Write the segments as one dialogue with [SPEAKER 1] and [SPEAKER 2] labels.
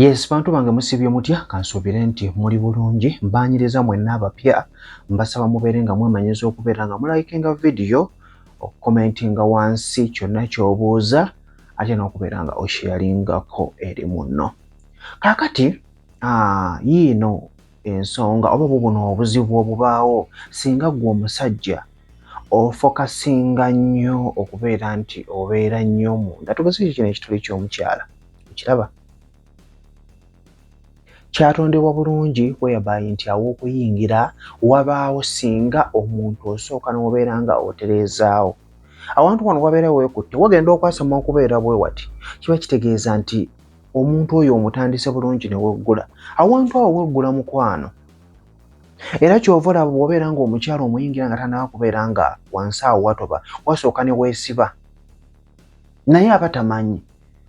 [SPEAKER 1] Yes, bantu bange musibye mutya kansuubire nti muli bulungi mbaanyiriza mwenna abapya mbasaba mubeere nga mwemanyiza okubeera nga mulayikinga vidiyo okukomentinga wansi kyonna ky'obuuza ate n'okubeera nga osheyalingako eri munno kaakati yiino ensonga oba bubuno obuzibu obubaawo singa gwe omusajja ofokasinga nnyo okubeera nti obeera nnyo munda tugeze ekyo kino ekituli ky'omukyala okiraba kyatondebwa bulungi weyabayi nti aw'okuyingira wabaawo singa omuntu osooka n'obeera nga otereezaawo awantu wano wabeera weekutte wagenda okwasama okubeera bwe wati kiba kitegeeza nti omuntu oyo omutandise bulungi ne weggula awantu awo weggula mukwano era kyova olaba bwobeera nga omukyalo omuyingira nga tanawa kubeera nga wansi awo watoba wasooka ne weesiba naye aba tamanyi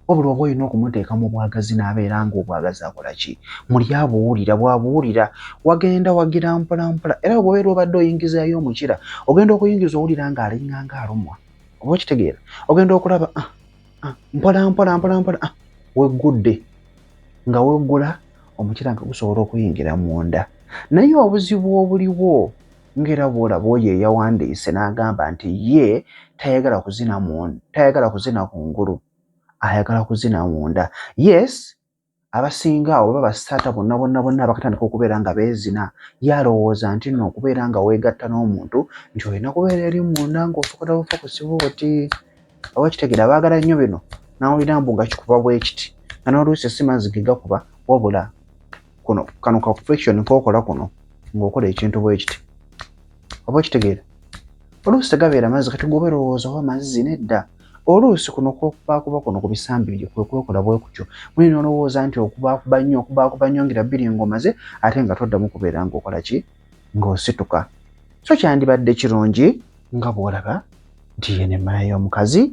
[SPEAKER 1] wabula oba olina okumuteeka mu bwagazi n'abeera nga obwagazi akola ki muli abuwulira bwabuwulira wagenda wagira mpolampola era bwobeera obadde oyingizayo omukira ogenda okuyingiza owulira nga alinganga alumwa oba okitegeera ogenda okulaba ah, ah, mpola mpola mpola mpola ah, weggudde nga weggula omukira nga gusobola okuyingira munda naye obuzibu obuliwo ngera bwolaba oyo eyawandiise n'agamba nti ye tayagala kuzina tayagala kuzina ku ngulu ayagala kuzina munda yes abasinga awo baba basaata bonna bonna bonna bakatandika okubeera nga beezina ye alowooza nti nno okubeera nga weegatta n'omuntu nti olina kubeera eri munda ng'osobola bufa ku sibooti oba kitegera baagala nnyo bino nawulira mbu nga kikuba bwekiti nga n'oluusi si mazzi ge gakuba wabula kuno kano ka friction kookola kuno ng'okola ekintu bwekiti oba okitegeera oluusi tegabeera mazzi kati gwoba erowooza oba mazzi nedda Oluusi kuno kw'okubaakuba kuno ku bisambi byo kwe kwekola bwe kutyo muli n'olowooza nti okubaakuba nnyo okubaakuba nnyo ngira bbiri ng'omaze ate nga toddamu kubeera ng'okola ki ng'osituka. So kyandibadde kirungi nga bw'olaba nti yeno emmana y'omukazi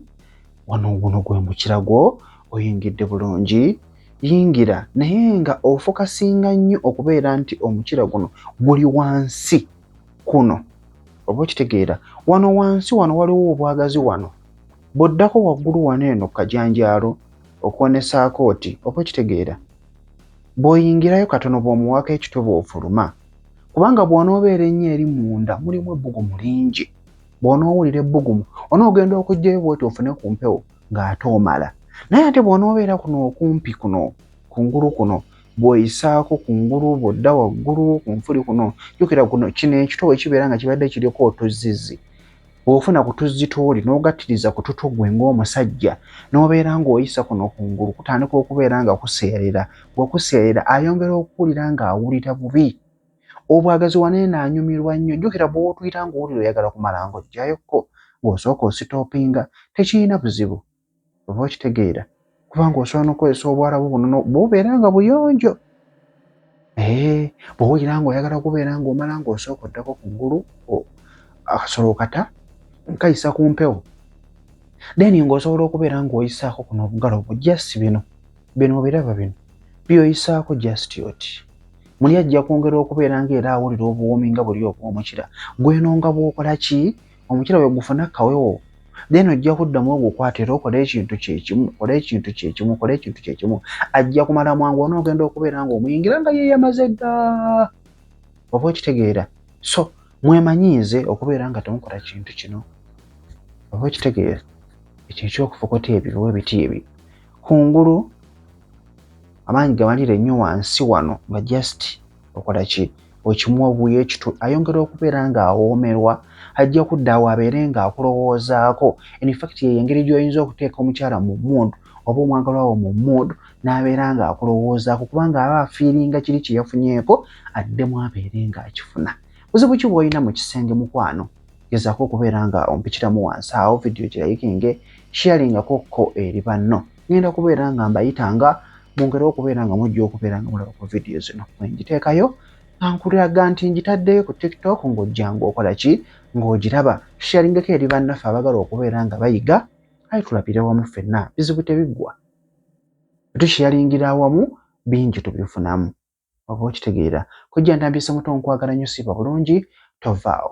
[SPEAKER 1] wano guno gwe mukira gwo oyingidde bulungi yingira naye nga ofokasinga nnyo okubeera nti omukira guno guli wansi. kuno oba okitegeera wano wansi wano waliwo obwagazi wano bw'oddako waggulu wano eno ku kajanjaalo okuwa ne saakooti oba okitegeera bw'oyingirayo katono bw'omuwaako ekitwe bw'ofuluma kubanga bw'onoobeera ennyo eri munda mulimu ebbugumu lingi bw'onoowulira ebbugumu onoogenda okugyayo bwoti ofune ku mpewo ng'ate omala naye ate bw'onoobeera kuno okumpi kuno kungulu kuno bwoyisaako kungulu bwodda waggulu ku nfuli kuno jukira kuno kino ekito wekibeera nga kibadde kiriko otuzzizi bwofuna ku tuzzi tooli n'ogattiriza ku tutu gwe ng'omusajja n'obeera ng'oyisa kuno kungulu kutandika okubeera nga kuseerera bwekuseerera ayongera okuwulira ng'awulira bubi obwagazi waneeno anyumirwa nnyo jukira bwotuyita ng'owulira oyagala kumala ng'ojjayokko bw'osooka ositoopinga tekirina buzibu oba okitegeera kubanga osobola nokukozesa obwarabu buno bubeera nga buyonjo eh, bwowulira nga oyagala kubeera nga omala nga osooka oddako ku ggulu akasolo kata nkayisa ku mpewo then nga osobola okubeera nga oyisaako kuno obugalo bwo just bino bino obiraba bino byoyisaako just oti muli ajja kwongera okubeera nga era awulira obuwoomi nga buli obwomukira gweno nga bwokola ki omukyala bwe gufuna kawewo then ojja kuddamu ogukwata era okole ekintu kyekimu kole ekintu kyekimu kole ekintu kyekimu ajja kumala mwangu ona ogenda okubeera nga omuyingira nga yeyamaze dda oba okitegeera so mwemanyiize okubeera nga temukola kintu kino oba okitegeera ekyo ekyokufukota ebyo oba ebiti ebyo kungulu amaanyi gamalire nnyo wansi wano nga just okola ki okimuwa obuuyo ekitu ayongera okubeera ng'awoomerwa ajja kudda awo abeere ng'akulowoozaako enfakiti yeyo engeri gy'oyinza okuteeka omukyala mu mood oba omwagalwa wo mu mood n'abeera ng'akulowoozaako kubanga aba afiiringa kiri kye yafunyeeko addemu abeere ng'akifuna buzibu ki bw'olina mu kisenge mukwano gezaako okubeera nga ompitiramu wansi awo vidiyo girayikinge shiyalingako kko eri banno ngenda kubeera nga mbayita nga mwongere okubeera nga mujja okubeera nga mulaba ku vidiyo zino wengiteekayo ankulaga nti ngitaddeyo ku tiktok ng'ojjanga okola ki ng'ogiraba tusharingeko eri bannaffe abagala okubeera nga bayiga aye tulabire wamu ffenna bizibu tebiggwa tusharingira awamu bingi tubifunamu oba okitegeera kujja ntambise muto nkwagala nyo siiba bulungi tovaawo